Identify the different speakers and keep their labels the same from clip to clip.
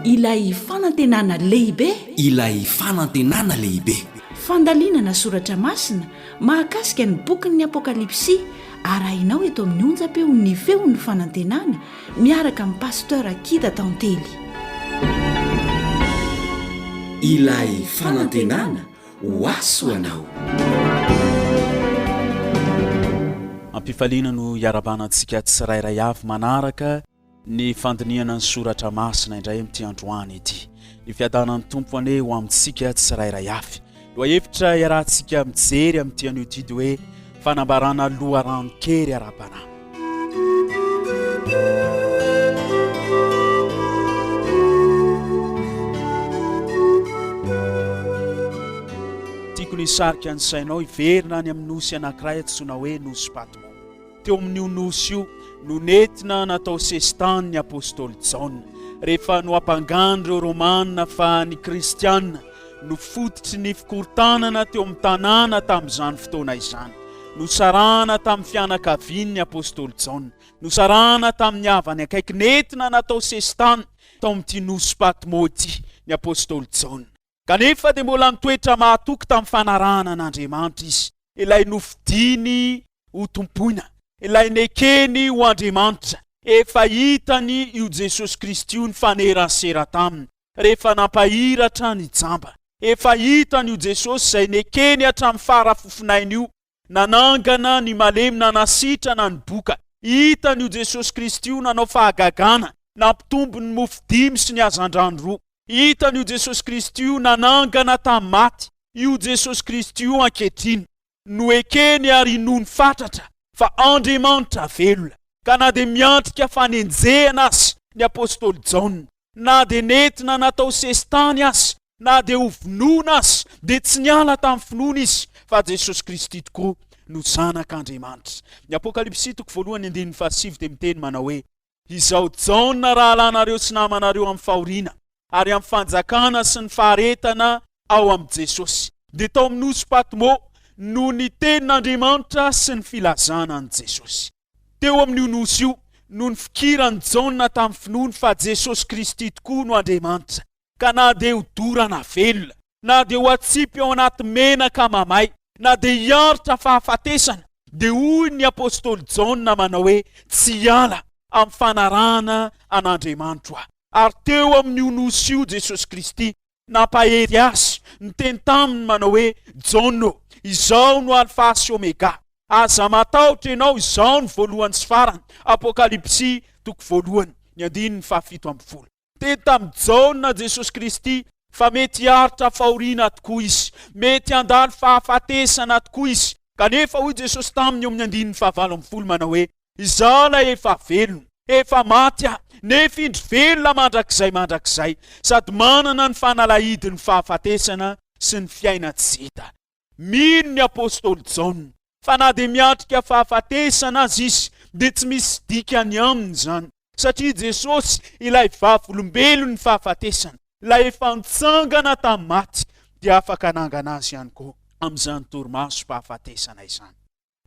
Speaker 1: Ilay fanantenana lehibe. Ilay
Speaker 2: fanantenana lehibe. Fandalinana
Speaker 1: soratra masina mahakasika ny bokin'ny Apokalypsy arahinao eto amin'ny onjam-peo Ny Feon'ny Fanantenana miaraka amin'ny Pasteur Kida Tantely.
Speaker 2: Ilay fanantenana ho azy ho anao.
Speaker 3: Am-pifaliana no iarabanantsika tsirairay avy manaraka ny fandinihana ny soratra masina indray amin'ity androany ity. Ny fiadanan'ny Tompo anie ho amintsika tsirairay avy. Lohahevitra iarahantsika mijery amin'ity anio ity dia hoe Fanambarana loharano kely ara-panahy. Tiako ny hisarika ny sainao hiverina any amin'ny nosy anankiray antsoina hoe Nosy Patmo. Teo amin'io nosy io no nentina natao sesitany ny apostoly Jaona, rehefa noampangan'ireo Romana fa ny Kristiana, no fototry ny fikorontanana teo amin'ny tanàna tamin'izany fotoana izany. Nosarahana tamin'ny fianakavian'ny apostoly Jaona. Nosarahana tamin'ny havany akaiky. Nentina natao sesitany tao amin'ity nosy Patmo ity ny apostoly Jaona. Kanefa dia mbola nitoetra mahatoky tamin'ny fanarahana an'Andriamanitra izy, ilay nofidiny ho Tompoina, ilay nekeny ho Andriamanitra. Efa hitany io Jesosy Kristy io nifanerasera taminy. rehefa nampahiry hatrany i Jamba. Efa hitany io Jesosy izay nekeny hatramin'ny fara fofon'ainy io, nanangana ny malemy, nanasitrana ny boka. Hitany io Jesosy Kristy io nanao fahagagana, nampitombo ny mofo dimy sy ny hazandrano roa. Hitany io Jesosy Kristy io nanangana tamin'ny maty, io Jesosy Kristy io ankehitriny. no ekeny ary inoany fatratra fa Andriamanitra velona, ka na dia miatrika fanenjehana aza ny apostoly Jaona, na dia nentina natao sesitany aza, na dia ho vonoina aza, dia tsy niala tamin'ny finoana izy fa Jesosy Kristy tokoa no Zanak'Andriamanitra. Ny Apokalypsy toko voalohany andininy fahasivy dia miteny manao hoe, Izao Jaona rahalahinareo sy namanareo amin'ny fahoriana ary amin'ny fanjakana sy ny faharetana ao amin'i Jesosy, dia tao amin'ny nosy Patmo no nitenin'Andriamanitra sy ny filazana an'i Jesosy. Teo amin'io nosy io no nifikiran'i Jaona tamin'ny finoany fa Jesosy Kristy tokoa no Andriamanitra, ka na dia ho dorana velona, na dia ho atsipy ao anaty menaka mamay, na dia hiaritra fahafatesana, dia hoy ny apostoly Jaona manao hoe, Tsy hiala amin'ny fanarahana an'Andriamanitro aho. Ary teo amin'io nosy io Jesosy Kristy nampahery azy, niteny taminy manao hoe, Jaona ô, izaho no Alfa sy Omega, aza matahotra ianao, izaho no voalohany sy farany. Apokalypsy toko voalohany, ny andininy fahafito ambin'ny folo. Teny tamin'i Jaona Jesosy Kristy fa mety hiaritra fahoriana tokoa izy, mety handalo fahafatesana tokoa izy. Kanefa hoy Jesosy taminy eo amin'ny andininy fahavalo ambin'ny folo manao hoe, Izaho ilay efa velona, efa maty aho, nefa indry velona mandrakizay mandrakizay, sady manana ny fanalahidin'ny fahafatesana sy ny fiaina tsy hita. Mino ny apostoly Jaona fa na dia miatrika fahafatesana aza izy, dia tsy misy dikany aminy izany, satria Jesosy, ilay Vavolombelon'ny fahafatesana, ilay efa nitsangana tamin'ny maty, dia afaka hanangana azy ihany koa amin'izany torimasom-pahafatesana izany.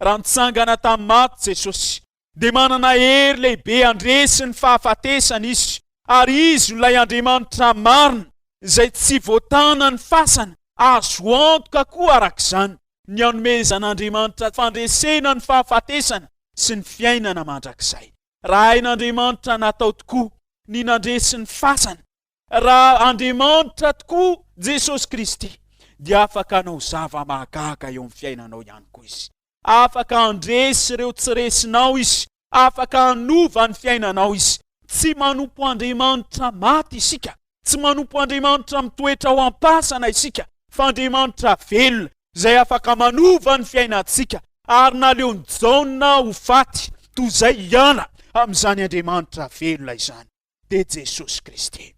Speaker 3: Raha nitsangana tamin'ny maty Jesosy, dia manana hery lehibe handresy ny fahafatesana izy, ary izy no ilay Andriamanitra marina, izay tsy voatanan'ny fasana, azo antoka koa araka izany ny hanomezan'Andriamanitra fandresena ny fahafatesana sy ny fiainana mandrakizay. Raha hain'Andriamanitra natao tokoa ny nandresy ny fasana, raha Andriamanitra tokoa Jesosy Kristy, dia afaka hanao zava-mahagaga eo amin'ny fiainanao ihany koa Izy. Afaka handresy ireo tsy resinao Izy. Afaka hanova ny fiainanao Izy. Tsy manompo andriamanitra maty isika. Tsy manompo andriamanitra mitoetra ao am-pasana isika, fa Andriamanitra velona, izay afaka manova ny fiainantsika. Ary naleon'i Jaona ho faty toy izay hiala amin'izany Andriamanitra velona izany, dia Jesosy Kristy.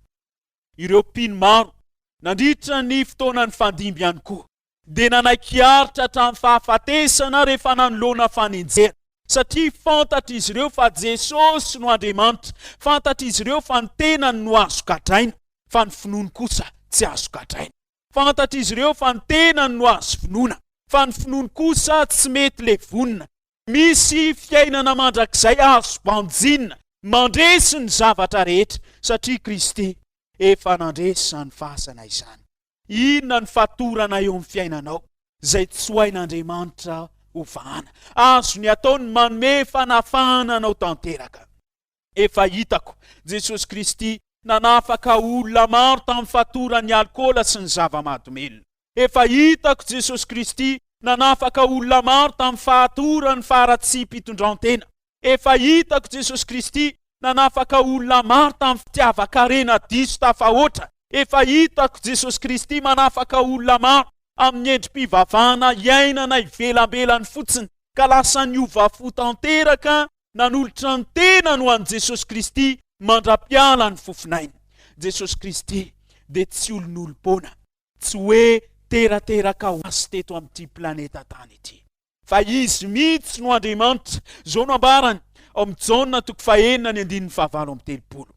Speaker 3: Ireo mpino maro nandritra ny fotoana nifandimby ihany koa dia nanaiky hiaritra hatramin'ny fahafatesana rehefa nanoloana fanenjehana, satria fantatr'izy ireo fa Jesosy no Andriamanitra, fantatr'izy ireo fa ny tenany no azo gadraina, fa ny finoany kosa tsy azo gadraina. Fantatr'izy ireo fa ny tenany no azo vonoina, fa ny finoany kosa tsy mety levonina. Misy fiainana mandrakizay azo banjinina, mandresy ny zavatra rehetra, satria Kristy efa nandresy izany fasana izany. Inona ny fatorana eo amin'ny fiainanao izay tsy ho hain'Andriamanitra hovahana? Azony atao ny manome fanafahana anao tanteraka. Efa hitako, Jesosy Kristy nanafaka olona maro tamin'ny fatoran'ny alikaola sy ny zava-mahadomelina. Efa hitako, Jesosy Kristy nanafaka olona maro tamin'ny fahatoran'ny faharatsiam-pitondran-tena. Efa hitako Jesosy Kristy nanafaka olona maro tamin'ny fitiavan-karena diso tafahoatra. Efa hitako Jesosy Kristy manafaka olona maro amin'ny endri-pivavahana iainana ivelambelany fotsiny, ka lasa niova fo tanteraka, nanolotra ny tenany ho an'i Jesosy Kristy mandra-piala ny fofonainy. Jesosy Kristy dia tsy olon'olom-poana, tsy hoe terateraka ho azy teto amin'ity planeta tany ity. Fa Izy mihitsy no Andriamanitra. Izao no ambarany ao amin'ny Jaona toko fahenina ny andininy fahavalo amby telopolo.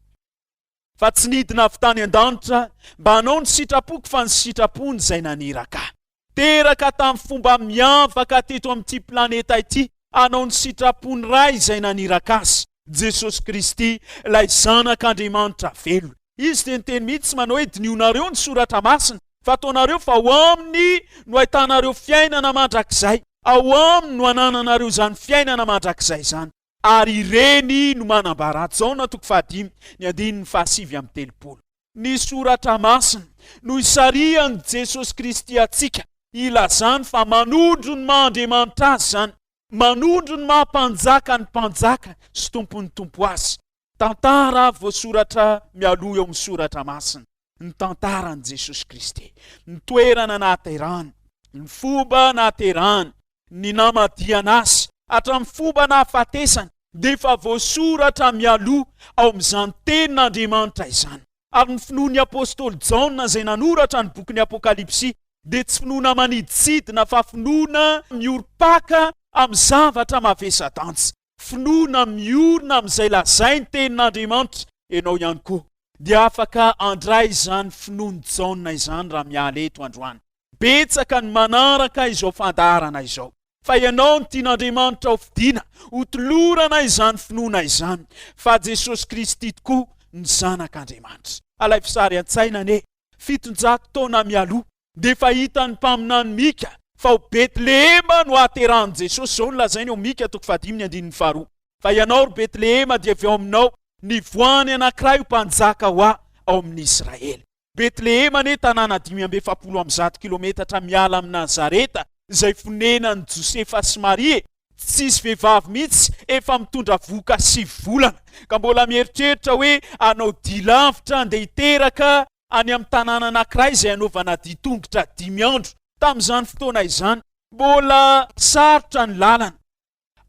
Speaker 3: Fa tsy nidina avy tany an-danitra mba hanao ny sitrapoko fa ny sitrapony izay naniraka ahy. Teraka tamin'ny fomba miavaka teto amin'ity planeta ity hanao ny sitrapon'ny Ray izay naniraka azy. Jesosy Kristy, ilay Zanak'Andriamanitra velona. Izy dia niteny mihitsy manao hoe, Dinionareo ny Soratra Masina, fa ataonareo fa ao Aminy no ahitanareo fiainana mandrakizay. Ao Aminy no anananareo izany fiainana mandrakizay izany. Ary ireny no manambara ato. Jaona toko fahadimy, ny andininy fahasivy amby telopolo. Ny Soratra Masina no isarihan'i Jesosy Kristy antsika, ilazany fa manondro ny maha Andriamanitra Azy izany. Manondro ny maha Mpanjaka ny Mpanjaka sy Tompon'ny Tompo Azy. Tantara voasoratra mialoha eo amin'ny Soratra Masina, ny tantaran'i Jesosy Kristy, ny toerana nahaterahany, ny fomba nahaterahany, ny namadihana Azy, hatramin'ny fomba nahafatesany, dia efa voasoratra mialoha ao amin'izany Tenin'Andriamanitra izany. ary ny finoan'ny apostoly Jaona izay nanoratra ny bokin'ny Apokalypsy dia tsy finoana maniditsidina fa finoana miorim-paka amin'ny zavatra mavesa-danja, finoana miorina amin'izay lazain'ny Tenin'Andriamanitra. Ianao ihany koa dia afaka handray izany finoan'i Jaona izany raha miala eto androany. Betsaka ny manaraka izao fandaharana izao, fa ianao no tian'Andriamanitra ho fidiana, ho tolorana izany finoana izany fa Jesosy Kristy tokoa no Zanak'Andriamanitra. Alaivo sary an-tsaina anie, fitonjato taona mialoha dia efa hitan'ny mpaminany Mika fa ao Betlehema no hahaterahan'i Jesosy, izao no lazainy ao Mika toko fahadimy ny andininy faharoa, Fa ianao, ry Betlehema, dia avy ao aminao nivoaha ny anankiray ho mpanjaka ho ahy ao amin'Israely. Betlehema anie tanàna dimy amby efapolo amby zato kilometatra miala amin'i Nazareta izay fonenan'i Josefa sy Maria e! Tsisy vehivavy mihitsy efa mitondra vohoka sivy volana ka mbola mieritreritra hoe hanao dia lavitra handeha hiteraka any amin'ny tanàna anankiray izay hanaovana dia tongotra dimy andro. Tamin'izany fotoana izany, mbola sarotra ny lalana.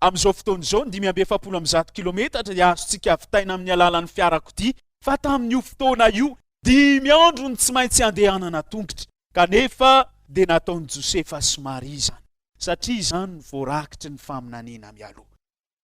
Speaker 3: Amin'izao fotoana izao, ny dimy amby efapolo amby zato kilometatra dia azontsika vitaina amin'ny alalan'ny fiarakodia, fa tamin'io fotoana io, dimy andro no tsy maintsy andehanana an-tongotra, kanefa dia nataon'i Josefa sy Maria izany, satria izany no voarakitry ny faminaniana mialoha.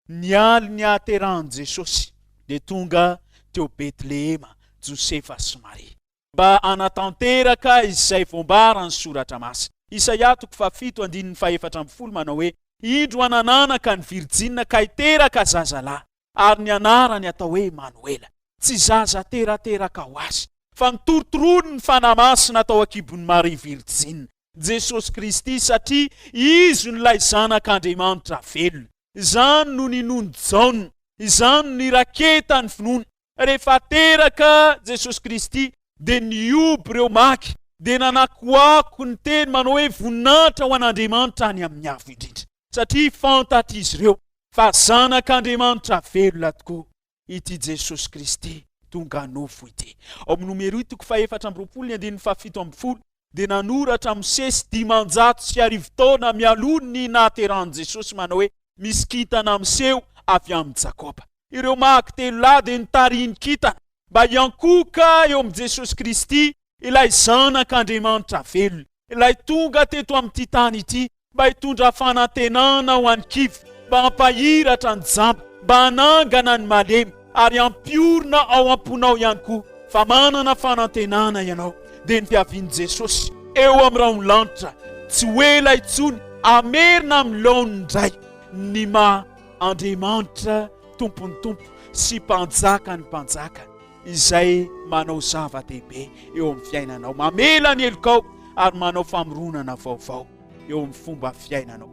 Speaker 3: Ny alin'ny hahaterahan'i Jesosy, dia tonga teo Betlehema Josefa sy Maria. mba hanatanteraka izay voambaran'ny Soratra Masina. Isaia toko fahafito andininy fahefatra ambin'ny folo manao hoe, Indro hanananaka ny virjina ka hiteraka zazalahy, ary ny anarany hatao hoe Imanoela. Tsy zaza terateraka ho azy, fa ny torotoroan'ny Fanahy Masina hatao an-kibon'i Maria Virjina, Jesosy Kristy, satria Izy no ilay Zanak'Andriamanitra velona. Izany no ninoan'i Jaona. Izany no niraketany finoana. Rehefa teraka Jesosy Kristy dia nihoby ireo maky dia nanakoako ny teny manao hoe voninahitra ho an'Andriamanitra any amin'ny avo indrindra satria fantatr'izy ireo fa zanak'Andriamanitra velona tokoa ity Jesosy Kristy tonga nofo ity. Ao amin'ny Nomeroi toko fahefatra amby roapolo ny andininy fahafito ambin'ny folo dia nanoratra Mosesy dimanjato sy arivo taona mialoha ny nahaterahan'i Jesosy manao hoe, Misy kintana miseho avy amin'i Jakoba. Ireo Mag telo lahy dia nitarihin'ny kintana mba hiankohoka eo amin'i Jesosy Kristy, ilay Zanak'Andriamanitra velona, ilay tonga teto amin'ity tany ity mba hitondra fanantenana ho an'ny kivy, mba hampahiratra ny jamba, mba hanangana ny malemy, ary hampiorina ao am-ponao ihany koa fa manana fanantenana ianao, dia ny fiavian'i Jesosy eo amin'ny rahon'ny lanitra tsy ho ela intsony hamerina amin'ny laoniny indray ny maha Andriamanitra Tompon'ny tompo sy Mpanjakan'ny mpanjaka. izay manao zava-dehibe eo amin'ny fiainanao, mamela ny helokao ary manao famoronana vaovao eo amin'ny fomba fiainanao.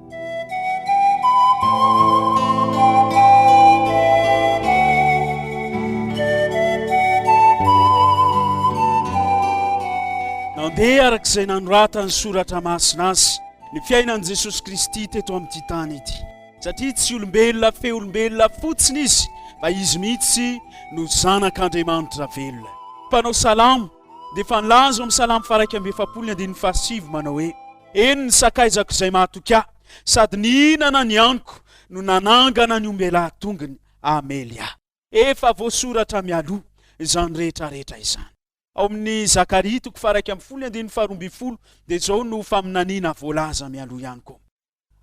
Speaker 3: Nandeha araka izay nanoratan'ny soratra masina azy ny fiainan'i Jesosy Kristy teto amin'ity tany ity. Satria tsy olombelona feo olombelona fotsiny izy fa izy mihitsy no zanak'Andriamanitra velona. Mpanao salamo dia efa nilaza ao amin'ny salamo faharaika amby efapolo ny andininy fahasivy manao hoe, Eny ny sakaizako izay mahatoky ahy, sady nihinana ny haniko no nanangana ny ombelahy tongony hamely ahy. Efa voasoratra mialoha izany rehetra rehetra izany. Ao amin'ny Zakaria toko faharaika amby folo ny andininy faharoa ambin'ny folo dia izao no faminaniana voalaza mialoha ihany koa.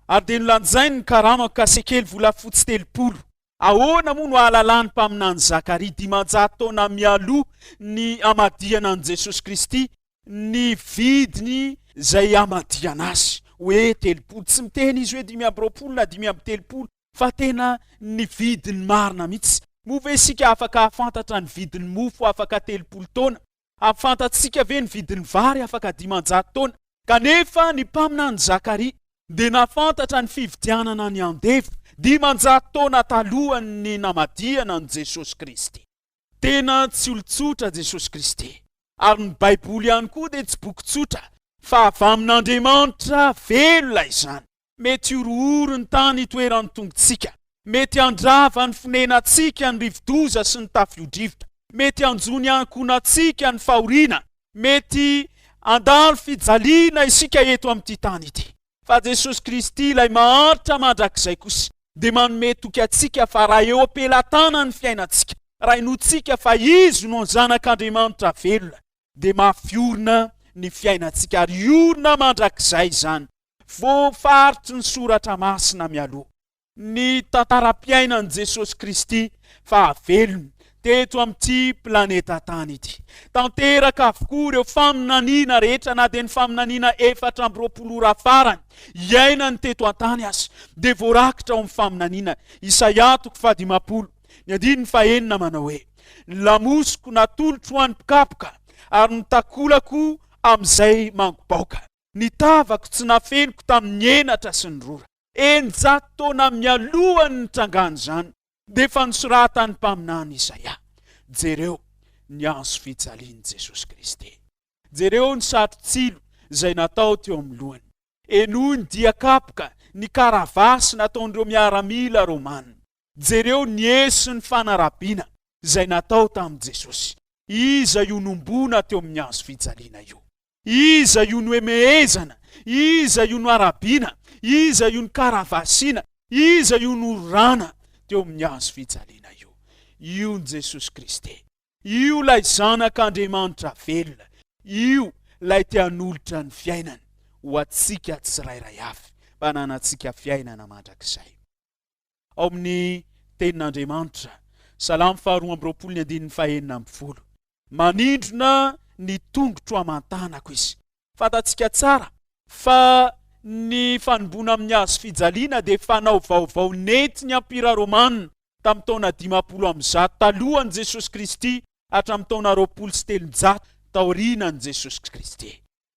Speaker 3: ary dia nolanjainy ny karamako ka sekely volafotsy telopolo. Ahoana moa no ahalalan'ny mpaminany Zakaria dimanjato taona mialoha ny hamadihana an'i Jesosy Kristy ny vidiny izay hamadihana Azy hoe telopolo? Tsy miteny izy hoe dimy amby roapolo na dimy amby telopolo fa tena ny vidiny marina mihitsy. Moa ve isika afaka hahafantatra ny vidin'ny mofo afaka telopolo taona? A Fantatsika ve ny vidin'ny vary afaka dimanjato taona? Kanefa ny mpaminany Zakaria dia nahafantatra ny fividianana ny andevo, dimanjato taona talohan'ny namadihana an'i Jesosy Kristy. Tena tsy olon-tsotra Jesosy Kristy, ary ny Baiboly ihany koa dia tsy boky tsotra, fa avy amin'Andriamanitra velona izany. Mety horohoro ny tany hitoeran'ny tongotsika. Mety handrava ny fonenantsika ny rivodoza sy ny tafiodrivotra. Mety hanjo ny ankohonantsika ny fahoriana. Mety handalo fijaliana isika eto amin'ity tany ity. Fa Jesosy Kristy, ilay maharitra mandrakizay kosa, dia manome toky antsika fa raha eo am-pelatanany ny fiainantsika, raha inoantsika fa Izy no Zanak'Andriamanitra velona, dia mafy orina ny fiainantsika, ary orina mandrakizay izany. Voafaritry ny Soratra Masina mialoha ny tantaram-piainan'i Jesosy Kristy fahavelony teto amin'ity planeta tany ity. Tanteraka avokoa ireo faminaniana rehetra, na dia ny faminaniana efatra amby roapolo ora farany iainany teto an-tany aza, dia voarakitra ao amin'ny faminaniana Isaia toko fahadimampolo ny andininy fahenina manao hoe, Ny lamosiko natolotro ho an'ny mpikapoka, ary ny takolako amin'izay mangobaoka. ny tavako tsy nafeniko tamin'ny henatra sy ny rora. Eninjato taona mialoha ny nitrangan'izany, dia efa nosoratan'ny mpaminany Isaia. Jereo ny antsy fijalian'i Jesosy Kristy. Jereo ny satro-tsilo izay natao teo amin'ny lohany. Henoy ny dian-kapoka, ny karavasy nataon'ireo miaramila romana. Jereo ny hehy sy ny fanarabiana izay natao tamin'i Jesosy. Iza io nombona teo amin'ny antsy fijaliana io? Iza io noemehezana? Iza io noarabiana? Iza io nokaravasiana? Iza io nororana teo amin'ny hazo fijaliana io? Io Jesosy Kristy. Io ilay Zanak' Andriamanitra velona. Io ilay te hanolotra ny fiainany ho antsika tsirairay avy, mba hananantsika fiainana mandrakizay. ao amin'ny Tenin'Andriamanitra, Salamo faha roa amby roapolo ny andininy faha enina ambin'ny folo. Manindrona ny tongotro aman-tanako izy. Fantatsika tsara fa ny fanomboana amin'ny hazo fijaliana dia fanao vaovao nentin'ny Empira Romana tamin'ny taona dimampolo amby zato talohan'i Jesosy Kristy hatramin'ny taona roapolo sy telonjato taorianan'i Jesosy Kristy.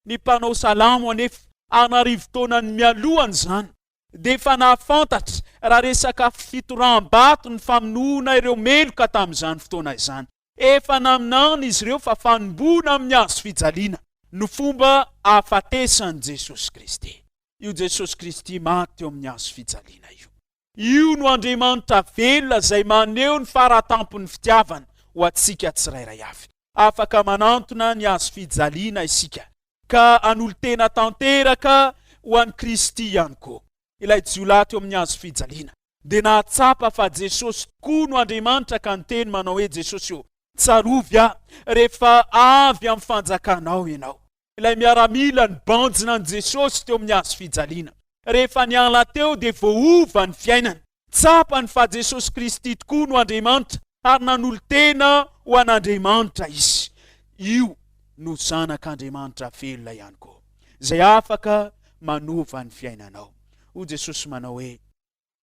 Speaker 3: Ny mpanao salamo anefa an'arivo taonany mialohan'izany dia efa nahafantatra raha resaka fitoraham-bato ny famonoana ireo meloka tamin'izany fotoana izany. Efa naminany izy ireo fa fanomboana amin'ny hazo fijaliana no fomba ahafatesan'i Jesosy Kristy. Io Jesosy Kristy maty teo amin'ny hazo fijaliana io. Io no Andriamanitra velona izay maneho ny faratampon'ny fitiavany ho antsika tsirairay avy. Afaka manantona ny hazo fijaliana isika ka hanolo-tena tanteraka ho an'i Kristy ihany koa ilay jiolahy teo amin'ny hazo fijaliana. Dia nahatsapa fa Jesosy tokoa no Andriamanitra ka niteny manao hoe, Jesosy ô, tsarovy ahy rehefa avy amin'ny fanjakanao ianao. Ilay miaramila nibanjina an'i Jesosy teo amin'ny hazo fijaliana, rehefa niala teo dia voaova ny fiainany. Tsapany fa Jesosy Kristy tokoa no Andriamanitra ary nanolo-tena ho an'Andriamanitra izy. Io no Zanak'Andriamanitra velona ihany koa, izay afaka manova ny fiainanao. Hoy Jesosy manao hoe,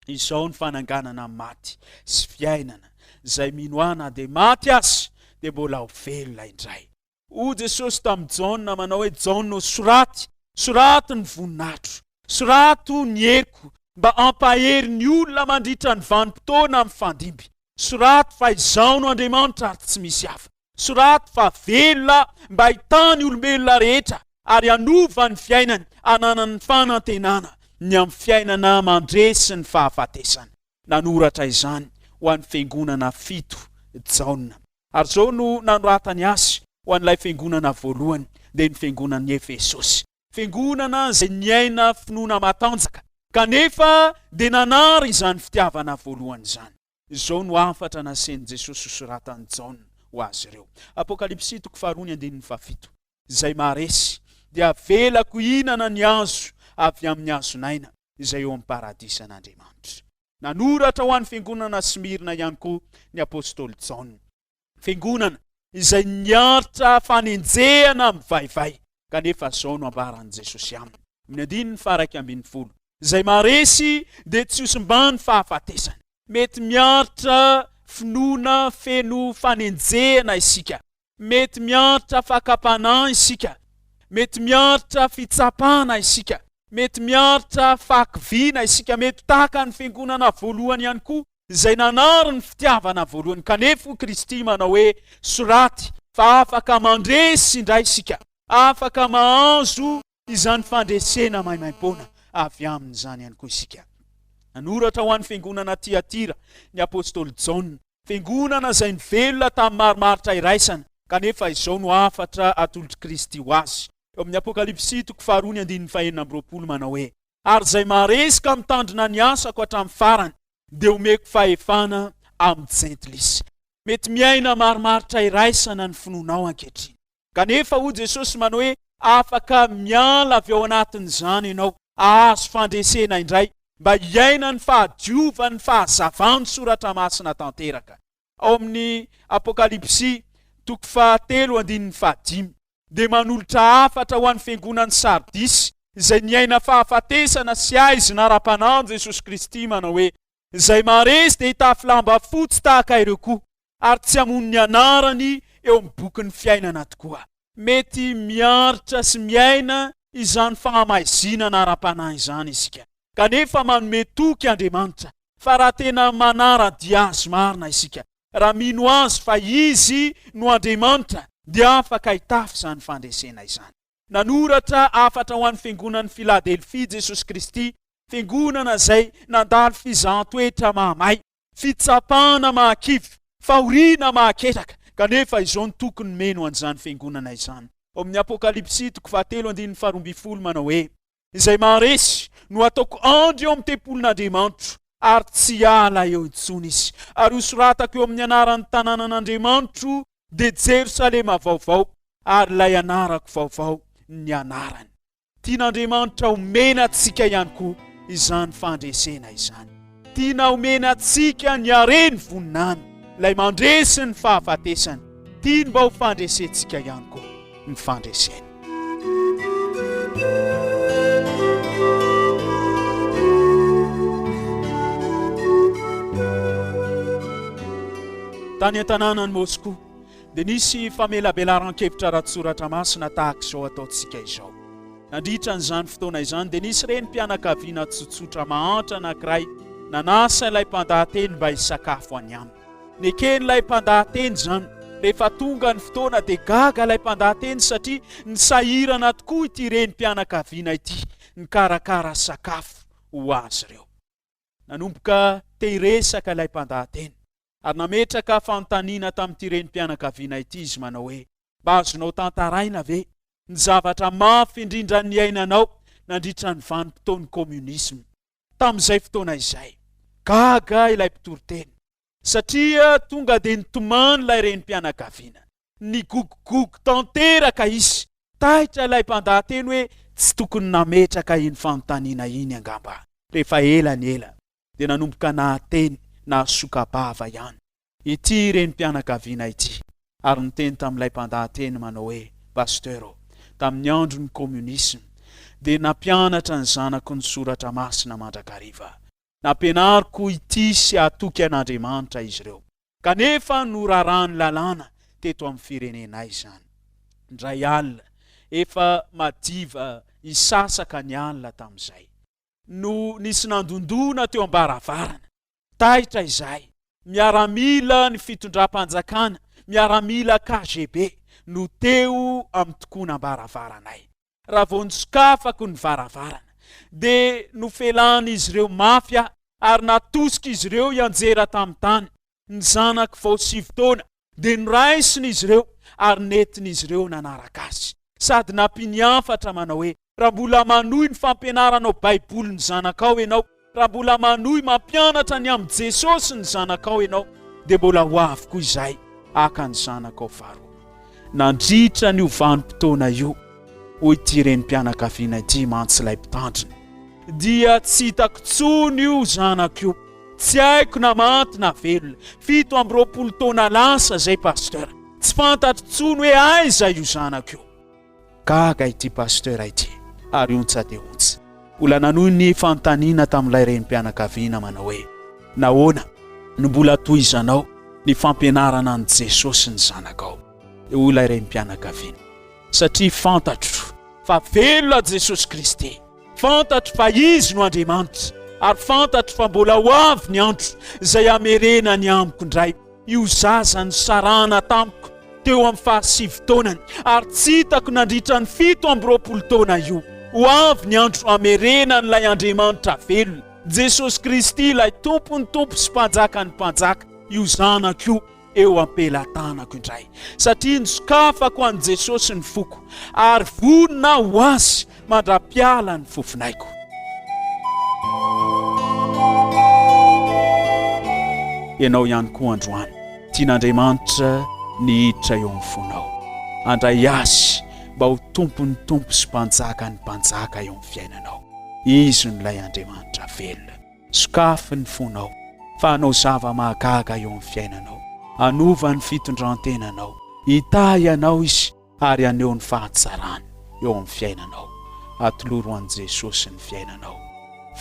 Speaker 3: Izao ny fananganana ny maty sy fiainana, izay mino Ahy na dia maty aza, dia mbola ho velona indray. Hoy Jesosy tamin'i Jaona manao hoe, Jaona ô, soraty, soraty ny voninahitro, soraty ny heriko, mba hampahery ny olona mandritra ny vanim-potoana mifandimby. Soraty fa Izaho no Andriamanitra ary tsy misy hafa. Soraty fa velona Aho mba hitaha ny olombelona rehetra ary hanova ny fiainany hananany fanantenana ny amin'ny fiainana mandresy ny fahafatesana. nanoratra izany ho an'ny fiangonana fito, Jaona. Ary izao no nanoratany azy, Ho an'ilay fiangonana voalohany, dia ny fiangonan'i Efesosy. Fiangonana izay niaina finoana matanjaka, kanefa dia nanary izany fitiavana voalohany izany. Izao no hafatra nasen'i Jesosy hosoratan'i Jaona ho azy ireo, Apokalypsy toko faharoa ny andininy fahafito, Izay maharesy, dia avelako hihinana ny hazo avy amin'ny hazon'aina, izay eo amin'ny paradisan'Andriamanitra. Nanoratra ho an'ny fiangonana Smyrna ihany koa ny apostoly Jaona. Fiangonana izay niaritra fanenjehana mivaivay, kanefa izao no ambaran'i Jesosy aminy, amin'ny andininy faharaika ambin'ny folo, Izay maharesy dia tsy hosimbany fahafatesana. Mety miaritra finoana feno fanenjehana isika, Mety miaritra fakam-panahy isika. Mety miaritra fitsapana isika. Mety miaritra fahakiviana isika. Mety tahaka ny fiangonana voalohany ihany koa, izay nanary ny fitiavana voalohany. Kanefa hoy Kristy manao hoe, Soraty fa afaka mandresy indray isika. Afaka mahazo izany fandresena maimaimpoana avy aminy izany ihany koa isika. Nanoratra ho an'ny fiangonana Tiatira ny apostoly Jaona, fiangonana izay nivelona tamin'ny marimaritra iraisana, kanefa izao no hafatra atolotr'i Kristy ho azy, eo amin'ny Apokalypsy toko faharoa ny andininy fahenina amby roapolo, manao hoe, Ary izay maharesy ka mitandrina ny asako hatramin'ny farany, dia homeko fahefana amin'ny Jentilisa. Mety miaina marimaritra iraisana ny finoanao ankehitriny. Kanefa, hoy Jesosy manao hoe, Afaka miala avy ao anatin'izany ianao, hahazo fandresena indray, mba hiaina ny fahadiovan'ny fahazavan'ny Soratra Masina tanteraka. Ao amin'ny Apokalypsy, toko fahatelo, andininy fahadimy, dia manolotra hafatra ho an'ny fiangonan'i Sardisy, izay niaina fahafatesana sy haizina ara-panahy amin'i Jesosy Kristy, manao hoe, Izay maharesy dia hitafy lamba fotsy tahaka ireo koa, ary tsy hamono ny anarany eo amin'ny bokin'ny fiainana tokoa. Mety miaritra sy miaina izany fahamaizinana ara-panahy izany isika, kanefa manome toky Andriamanitra fa raha tena manara-dia Azy marina isika, raha mino Azy fa Izy no Andriamanitra, dia afaka hitafy izany fandresena izany. Nanoratra hafatra ho an'ny fiangonan'i Filadelfia Jesosy Kristy, fiangonana izay nandalo fizahan-toetra mahamay, fitsapana mahakivy, fahoriana mahaketraka, kanefa izao no tokony meno an'izany fiangonana izany. Ao amin'ny Apokalypsy toko fahatelo andininy faharoa ambin'ny folo manao hoe. izay maharesy no hataoko andry eo amin'ny tempolin'Andriamanitro, ary tsy hiala eo intsony izy. Ary hosoratako eo amin'ny anaran'ny tanànan'Andriamanitro, dia Jerosalema vaovao, ary ilay anarako vaovao ny anarany. Tian'Andriamanitra omena antsika ihany koa izany fandresena izany. Tiana omena antsika ny hare ny voninany, ilay mandresy ny fahafatesana. Tiany mba ho fandresentsika ihany koa ny fandreseny. Tany an-tanànan'i Moscou, dia nisy famelabelaran-kevitra ara-tsoratra masina tahaka izao ataontsika izao. Nandritra an'izany fotoana izany, dia nisy renim-pianakaviana tsotsotra mahantra anankiray nanasa ilay mpandahateny mba hisakafo any aminy. Neken'ilay mpandahateny izany. Rehefa tonga ny fotoana, dia gaga ilay mpandahateny satria nisahirana tokoa ity renim-pianakaviana ity nikarakara sakafo ho azy ireo. Nanomboka te hiresaka ilay mpandahateny. ary nametraka fanontaniana tamin'ity renim-pianakaviana ity izy manao hoe, Mba azonao tantaraina ve ny zavatra mafy indrindra niainanao nandritra ny vanim-potoan'ny Kominisma? Tamin'izay fotoana izay, gaga ilay mpitory teny, satria tonga dia nitomany ilay renim-pianakaviana. Nigogogogo tanteraka izy. Taitra ilay mpandaha-teny hoe, Tsy tokony nametraka iny fanontaniana iny angamba rehefa ela ny ela. dia nanomboka nahateny nahasoka-bava ihany ity renim-pianakaviana ity ary niteny tamin'ilay mpandahateny manao hoe, Pasteur ô, tamin'ny andron'ny Komunisma dia nampianatra ny zanako ny Soratra Masina mandrakariva. Nampianariko hitia sy hatoky an'Andriamanitra izy ireo. Kanefa noraràn'ny lalàna teto amin'ny firenenay izany. Indray alina, efa madiva hisasaka ny alina tamin'izay. no nisy nandondona teo am-baravarana. Taitra izay, miaramila ny fitondram-panjakana, miaramila KGB, no teo amin'ny tokonam-baravaranay. Raha vao nisokafako ny varavarana, dia nofelahin'izy ireo mafy aho ary natosika izy ireo hianjera tamin'ny tany. Ny zanak'i vao sivy taona dia noraisin'izy ireo ary nentin'izy ireo nanaraka azy. Sady nampian'ny hafatra manao hoe, Raha mbola manohy ny fampianaranao Baiboly ny zanakao ianao, raha mbola manohy mampianatra ny amin'i Jesosy ny zanakao ianao, dia mbola ho avy koa izahay haka ny zanakao faharoa. Nandritra an'io vanim-potoana io, hoy ity renim-pianakaviana ity mantsy ilay mpitandrina. Dia tsy hitako intsony io zanako io, tsy haiko na maty na velona. Fito amby roapolo taona lasa izay Pasteur. Tsy fantatro intsony hoe aiza io zanako io. Gaga ity Pasteur ity ary ontsa dia ontsa. Mbola nanohy ny fanontaniana tamin'ilay renim-pianakaviana manao hoe, Nahoana no mbola tohizanao ny fampianarana an'i Jesosy ny zanakao? Dia hoy ilay renim-pianakaviana. Satria fantatro fa velona Jesosy Kristy, fantatro fa Izy no Andriamanitra, ary fantatro fa mbola ho avy ny andro izay hamerenany amiko indray io zaza nisarahana tamiko teo amin'ny fahasivy taonany ary tsy hitako nandritra ny fito amby roapolo taona io. Ho avy ny andro hamerenan'ilay Andriamanitra velona, Jesosy Kristy, ilay Tompon'ny tompo sy Mpanjakan'ny mpanjaka, io zanako io. eo am-pelatanako indray, satria nosokafako an'i Jesosy ny foko, ary vonona aho ho Azy mandra-piala ny fofonaiko. Ianao ihany koa androany, tian'Andriamanitra ny hiditra eo amin'ny fonao. Andray Azy mba ho Tompon'ny Tompo sy Mpanjakan'ny Mpanjaka eo amin'ny fiainanao. Izy no ilay Andriamanitra velona. Sokafy ny fonao fa hanao zava-mahagaga eo amin'ny fiainanao. Hanova ny fitondran-tenanao. Hitahy anao Izy ary haneho ny fahatsarany eo amin'ny fiainanao. Atoloro an'i Jesosy ny fiainanao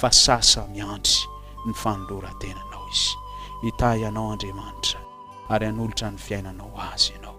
Speaker 3: fa sasa miandry ny fanoloran-tenanao Izy. Hitahy anao Andriamanitra ary hanolotra ny fiainanao Azy ianao.